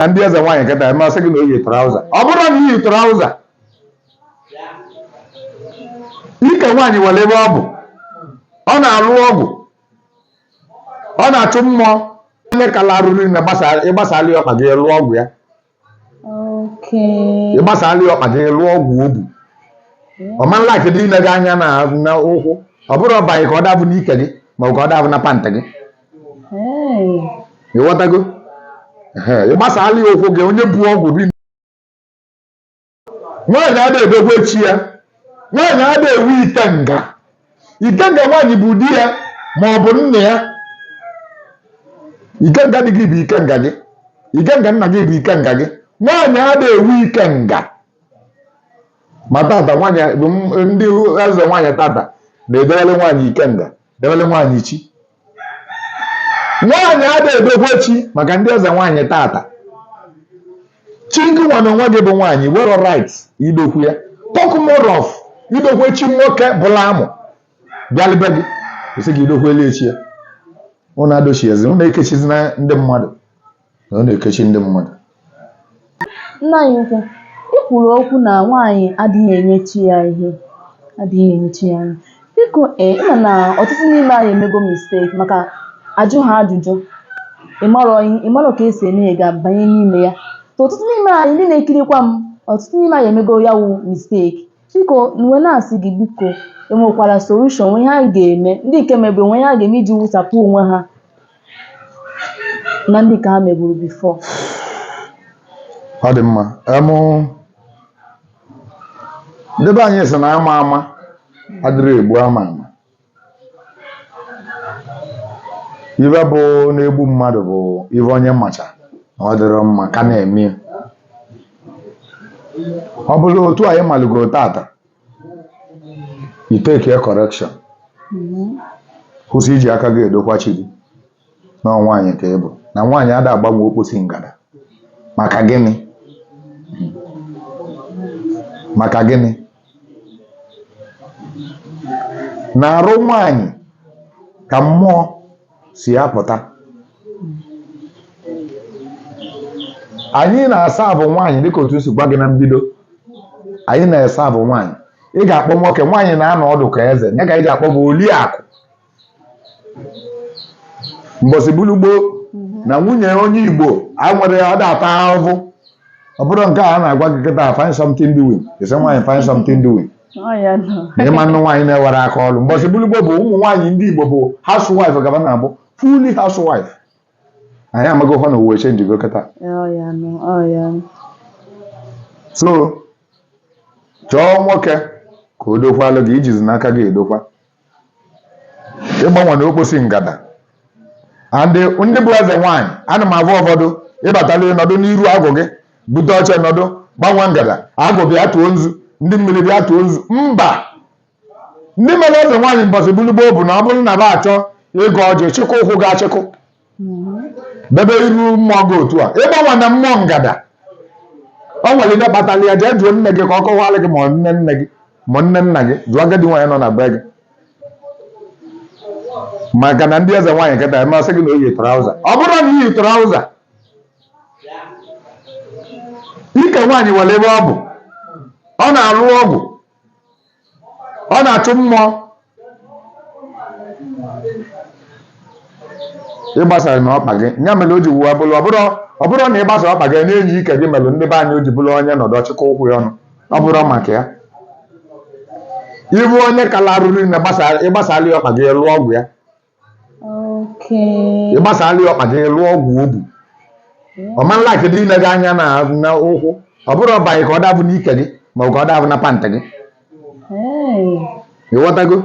na ndị eze nwaanyị kịta emasị gị na o yi trouser ọ bụrụ na i yi trouser ike nwaanyị nwere ebe ọ bụ ọ na-alụ ọgwụ ọ na-achụ mmụọ onye kala arụrụ na ịgbasala ya ọkpa gị lụọ ọgwụ ya Okay. ịgbasala ya ọkpa gị lụọ ọgwụ o bu ọmanla kedu ile gị anya na na ụkwụ ọ bụrụ ọbaghị ka ọ dabụ n'ike gị maọbụ ka ọ dabụ na pant gị ịghọtago ị gbasala ya ụkwụ gị onye bu ọgwụ ri nwaanyị ada edogwe chi ya nwaanyị ada ewu ikenga ikenga nwaanyị bụ di ya ma ọ bụ nna ya ikenga di gị bụ ikenga gị ikenga nna gị bụ ikenga gị nwaanyị ada ewu ikenga ma tata nwaanyị ndị eze nwaanyị tata na-edewele nwaanyị ikenga debere nwaanyị chi nwaanyị ada edokwe chi maka ndị eze nwaanyị tata chi gị nwa na onwe gị bụ nwaanyị nwere right idokwe ya talk more of idokwe chi nwoke bụla amụ bịalụ be gị kwụsị gị idokwelu ya chi ya ụnụ adochiezi ụnụ ekechizi na ndị mmadụ na ọ na-ekechi ndị mmadụ nna anyị ukwu ị kwuru okwu na nwaanyị adịghị enye chi ya ihe adịghị enye chi ya ihe biko ee ị ma na ọtụtụ n'ime anyị emego mistake maka ajụ ha ajụjụ ịmarọ ihe ịmarọ ka esi eme ya ga-abanye n'ime ya so ọtụtụ n'ime anyị ndị na-ekirikwa m ọtụtụ n'ime anyị emego ya wụ mistake biko m wee na-asị gị biko enwekwara solution nwe ihe anyị ga-eme ndị nke mebe nwe ihe ha ga-eme iji wụsapụ onwe ha na ndị ka ha meburu before ọ dị mma em ndị be anyị sị na ama ama adịrọ egbu ama ama ive bụ na-egbu mmadụ bụ ive onye macha na ọ dịrọ mma ka na-eme ya. ọ bụrụ otu anyị malụgoro tata you take your correction kwụsị iji aka gị edokwa chi gị na ọ nwaanyị ka ị bụ na nwaanyị ada agbanwe okposi ngada maka gịnị maka gịnị na arụ nwaanyị ka mmụọ si apụta anyị na-asọbu nwaanyị dịka otu m si gwa gị na mbido anyị na-asọbu nwaanyị ị ga-akpọ nwoke nwaanyị na-anọ ọdụ ka eze ya ka anyị ji akpọbu Oliakụ mbọsị bulu gboo na nwunye onye Igbo a nwere ọ da ata ahụhụ ọ bụrụ nke a na-agwa gị kịta find something doing ị sị nwaanyị find something doing ị ma-anụ nwaanyị na-enwerọ aka ọrụ mbọsị bụlụ gboo bụ ụmụ nwaanyị ndị Igbo bụ housewife gaba na-abụ fully housewife anyị amaghị hụ na ụwa chenjigo kịta so chọọ nwoke ka o dokwalụ gị i jizi n'aka gị edokwa ị gbawana okposi ngada and ndị bụ eze nwaanyị ana m agwa ụfọdụ ị batala nọdụ n'iru agwụ gị bute oche nọdụ gbawa ngada agwụ bịa tụọ nzu ndị mmiri bịa tụọ nzu mba ndị mere eze nwaanyị mbọsị bụlụ gboo bụ na ọ bụrụ na ba achọ ịgọ ọjị chịkọ ụkwụ gị achịkọ debe iru mmụọ gị otu a ị gbawana mmụọ ngada o nwere ihe kpatara ya jee jụọ nne gị ka ọ kọwara gị ma ọ nne nne gị ma nne nna gị jụọ agadi nwaanyị nọ na be gị maka na ndị eze nwaanyị kịta emasị gị na o yi trauza ọ bụrụ na i yi trauza ike nwaanyị nwere ebe ọ bụ ọ na-alụ ọgwụ ọ na-achụ mmụọ ị gbasana ọkpa gị ya mere o ji wee bụrụ ọ bụrụ na ị gbasa ọkpa gị na-enyi ike gị mere ndị be anyị o ji bụrụ onye nọdụ ọ chịkọ ụkwụ ya ọnụ ọ bụrụ maka ya ịbụ onye kala arụrụ na ị gbasara ya ọkpa gị lụọ ọgwụ ya Okay. ị gbasara ya ọkpa gị lụọ ọgwụ o bu ọ ma nla kedu ile gị anya na na ụkwụ ọ bụrụ ọba gị ka ọ dabụ n'ike gị ma ọ bụ ka ọ dabụ na pant gị Hey. ị ghọtago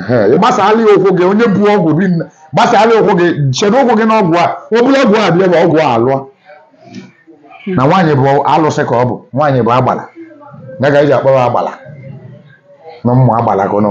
Ehe, ị gbasara ya ụkwụ gị onye bu ọgwụ bi nna gbasara ya ụkwụ gị chedo ụkwụ gị n'ọgwụ a ọ bụrụ ọgwụ a bịa bụ ọgwụ a alụọ na nwaanyị bụ alụsị ka ọ bụ nwaanyị bụ agbala ya ka e ji akpọrọ agbala na ụmụ agbala ka ọ nọ